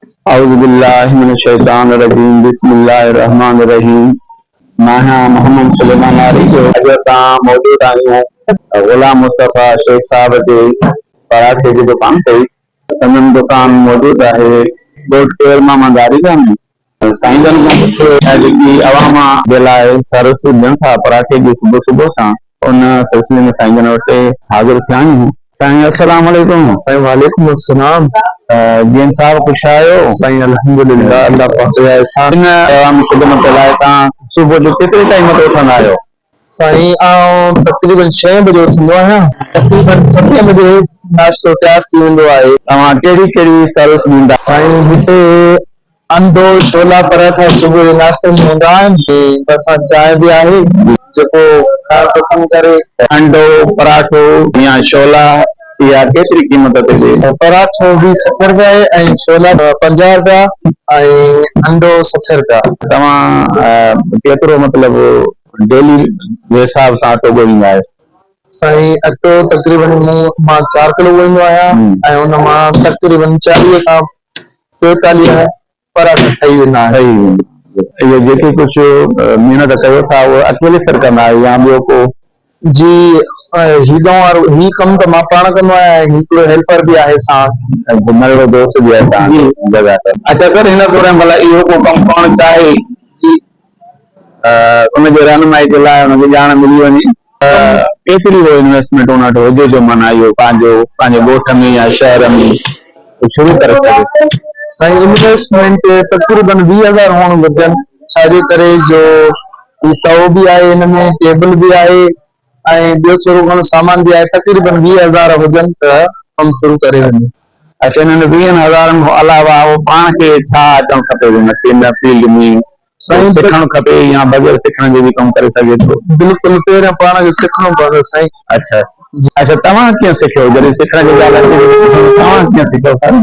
اعوذ بالله من الشيطان الرجيم بسم الله الرحمٰن الرحيم ماهيان محمد سليمان آري جو اڄ اسان موجود آهيون غلام مصطفيٰ شيخ صاحب جي پراٺي جي دڪان تي سندن دڪان موجود آهي ڳوٺ ڪير ماما داري گاهه ۾ سائين جن کان پڇو ته جيڪي اوهان مان جي لاء سروسز ڏين ٿا پراٺي جي صبح صبح سان ان سلسلي ۾ سائين جن وٽ حاضر ٿيا آهيون. سائين السلام عليڪم. سائين وعليڪم السلام. جيئن صاحب خوش آهيو. سائين الحمد لله الله پاڪ جا احسان. ان عوامي خدمت لاء توهان صبح جو ڪيتري ٽائيم تي اٿندا آهيو. سائين آئون تقريبن ڇهين بجي اٿندو آهيان. تقريبن ستين بجي ناشتو تيار ٿي ويندو آهي. توهان ڪهڙي ڪهڙي سروس ڏيندا. سائين هتي انڊو ڇولا پراٺا صبح جي ناشتي ۾ هوندا آهن ۽ بر سان چانهه به آهي جيڪو کائڻ پسند ڪري. انڊو پراٺو يا ڇولا اها ڪيتري قيمت تي ڏي؟ پراٺو به سٺ رپيا آهي ۽ ڇولا پنجاهه رپيا ۽ انڊو سٺ رپيا. توهان ڪيترو مطلب ڊيلي جي حساب سان اٽو ڳوهيندا آهيو؟ سائين اٽو تقريبن مون مان چار ڪلو ڳوهيندو آهيان ۽ ان مان تقريبن چاليهه کان چوئيتاليهه پراڳ ٺهي ويندا آهن. اهي جيڪي ڪجهه محنت ڪيو ٿا اهي اڪيلي سر ڪندا آهيو يا ٻيو ڪو؟ جي هي ڳئون وارو هي ڪم ته مان پاڻ ڪندو آهيان ۽ هڪڙو هيلپر به آهي ساڻ. ۽ ننڍڙو دوست به آهي تهان جو. جي اچا سر هن دوران ڀلا اهو ڪو ڪم پاڻ چاهي جي. ان جي رهنمائي جي لاء ان کي ڄاڻ ملي وڃي ته ڪيتري هو انويسٽمينٽ ان وٽ هجي جو معنيٰ اهو پنهنجو پنهنجي ڳوٺ ۾ يا شهر ۾ شروع ڪري سگهي. سائين انويسٽمينٽ تقريبن ويهه هزار هئڻ گهرجن ڇا جي ڪري جو هي تئو به آهي هن ۾ ٽيبل به آهي ۽ ٻيو ٿورو گهڻو سامان به آهي، تقريبن ويهه هزار هجن ته ڪم شروع ڪري وڃي. اچ انهن ويهن هزارن کان علاوه هو پاڻ کي ڇا اچڻ کپي جو نڪي ان فيلڊ ۾ ڪجهه سکڻ کپي يا بغير سکڻ جي به ڪم ڪري سگهي ٿو؟ بلڪل پهريان پاڻ کي سکڻو پوندو سائين. اچ اچ توهان ڪيئن سکيو جڏهن سکڻ جي ڳالهه اچي ته توهان ڪيئن سکيو سائين؟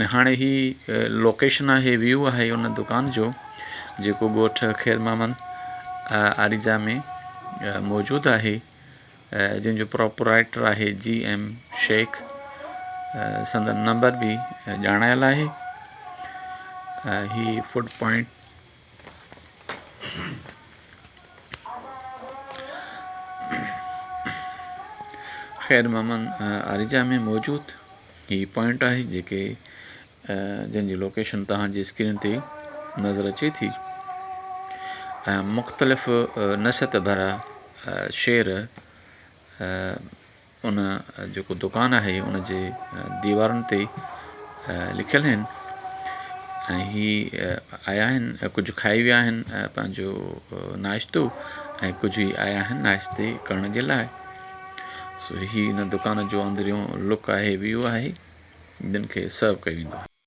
۾ هاڻي هي لوڪيشن آهي ويو آهي ان دڪان جو جيڪو ڳوٺ خير محمد آريجا ۾ موجود آهي جنهن جو پراپرائٽر آهي جي ايم شيخ سندن نمبر به ڄاڻايل آهي هي فوڊ پوائنٽ خير محمد آريجا ۾ موجود هي پوائنٽ آهي جيڪي جنهن جي لوڪيشن توهان جي اسڪرين تي نظر اچي ٿي ۽ مختلف نصيحت ڀرا شعر ان جيڪو دڪان آهي ان جي ديوارن تي لکيل آهن ۽ هي آيا آهن ڪجهه کائي ويا آهن پنهنجو ناشتو ۽ ڪجهه هي آيا آهن ناشتي ڪرڻ جي لاء سو هي هن دڪان جو اندريون لڪ آهي ويو آهي جن کي سرو ڪيو ويندو آهي.